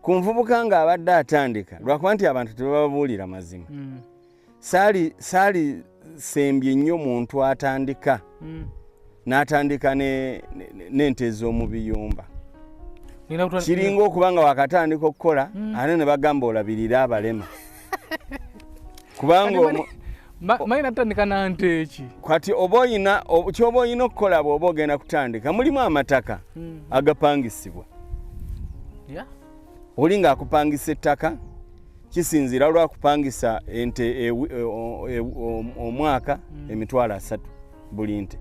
ku nvubuka ng'abadde atandika lwakuba nti abantu tebababuulira mazima mm. saali saali sembye nnyo muntu atandika mm. n'atandika n'ente ez'omu biyumba kiringa okuba nga wakatandika okukola mm. ate ne bagamba olabirira abalema kubanga mani natandika nante eki kati oba oyina kyoba oyina okukola bwoba ogenda kutandika mulimu amataka mm. agapangisibwa oli nga akupangisa ettaka kisinzira lwakupangisa ente e, e, omwaka mm. emitwalo asatu buli nte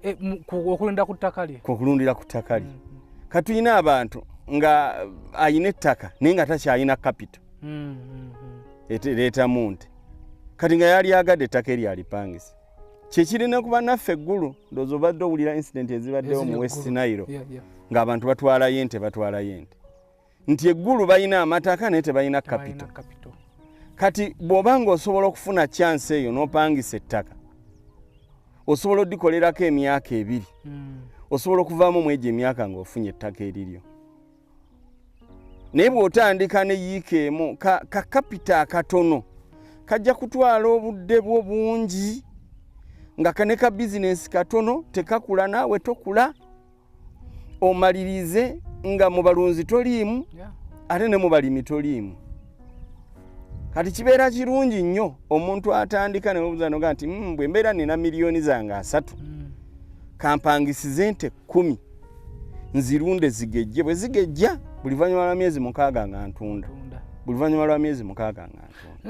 e, okulunda ku ttaka lye okulundira ku ttaka lye mm, mm. katulina abantu nga ayina ettaka naye nga takyalina kapito mm, ereetamu nti kati nga yali agadde ettaka eryo alipangisa kyekirina kuba naffe eggulu ndoozi obadde owulira incidenti ezibaddewo mu west nairo ng'abantu batwalayo ente batwalayo ente nti eggulu balina amataka naye tebalina kapito kati bw'oba ng'osobola okufuna kyansi eyo n'opangisa ettaka osobola odikolerako emyaka ebiri hmm. osobola okuvaamu mwegyo emyaka ng'ofunye ettaka eriryo naye bw'otandika ne yiika emu kakapita ka akatono kajja kutwala obudde bwo bungi nga kaneka bizinensi katono tekakula naawe tokula omalirize nga mu balunzi toliimu ate ne mu balimi toliimu kati kibeera kirungi nnyo omuntu atandika nebuzanoga nti hmm, bwe mbeera nina miliyoni zange asatu hmm. kampangisize nte kumi nzirunde zigejje bwe zigejja buli vanyuma lwa myezi mukaaga nga ntunda buli vanyuma lwa myezi mukaaga nga ntunda